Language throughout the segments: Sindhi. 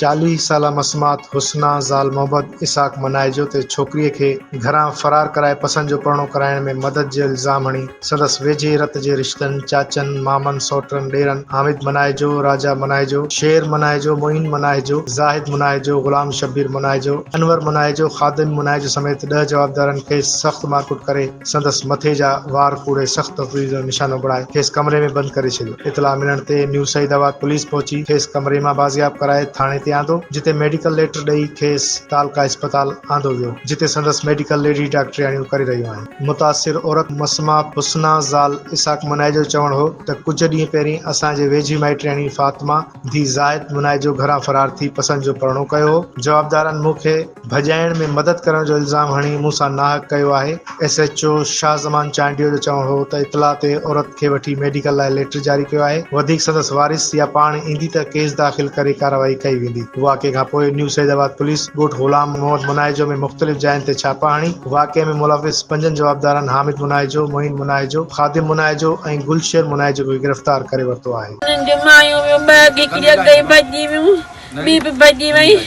چاليهه سالا مسمات حسنا زال محبت اسحاق منائجو تي ڇوڪريء کي گهران فرار ڪرائي پسند جو پرڻو ڪرائڻ ۾ مدد جو الزام هڻي سندس ويجهي رت جي رشتن، چاچن، مامن، سئوٽن، ڏيرن، حامد مناهيجو، راجا مناهيجو، شير مناهيجو، معين مناهيجو، زاهد مناهيجو، غلام شبير مناهيجو، انور مناهيجو، خادم مناهيجو سميت ڏهه جوابدارن کيس سخت مارڪٽ ڪري سندس مٿي جا وار ڪوڙي سخت تفويض جو نشانو بڻائي کيس ڪمري ۾ بند ڪري ڇڏيو. اطلاع ملڻ تي نيو سعيد آباد پوليس پهچي کيس ڪمري مان بازياب ڪرائي ٿاڻي تي آندو جتي ميڊيڪل ليٽر ڏئي کيس تعلقه اسپتال آندو ويو جتي سندس ميڊيڪل ليڊي ڊاڪٽرياڻيون ڪري رهيون آهن. متاثر عورت مسمه حسنا زال اسحاق منائي جو چوڻ هو ته ڪجهه ڏينهن پهرين اسان جي ويجهي مائٽياڻي فاطمه ڌيء زاهد منائي جو گهران فرار ٿي پسند جو پرڻو ڪيو هو جوابدارن مون کي ڀڄائڻ ۾ مدد ڪرڻ جو الزام هڻي مون سان ناحق ڪيو آهي S H O Shah Zaman Chandio جو چوڻ هو ته اطلاع تي عورت کي وٺي ميڊيڪل لاء ليٽر جاري ڪيو آهي وڌيڪ سندس وارث يا پاڻ ايندي ته ڪيس داخل ڪري ڪارروائي ڪئي ويندي واقعي کانپوء نيو سيد آباد پوليس ڳوٺ غلام محمد منائي جو ۾ مختلف جاين تي ڇاپا هڻي واقعي ۾ ملوث پنجن جوابدارن حامد مناهيجو، معين مناهيجو، خادم مناهيجو ۽ گل شير مناهيجو کي گرفتار ڪري ورتو آهي. انهن جون مايون ويون ٻه اڳي ڪري اڳئي ڀڄي ويون، ٻي به ڀڄي وئي.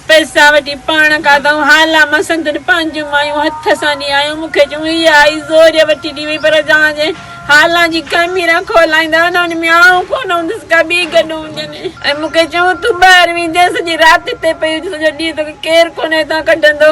پئسا وٺي پاڻ کاڌائون. هالا مان سندن پنهنجون مايون هٿ سان ڏي آيون. مون کي چيون هيء آئي زوريء وٺي ڏي وئي پر جان جي هالان جي خميرا کولائيندا نه ان ۾ آئون ڪونه هوندس ڪا ٻي گڏ هجن. ۽ مون کي چيون تون ٻاهر ويندين سڄي رات هتي پئي هج سڄو ڏينهن توکي ڪير ڪونه هتان ڪڍندو.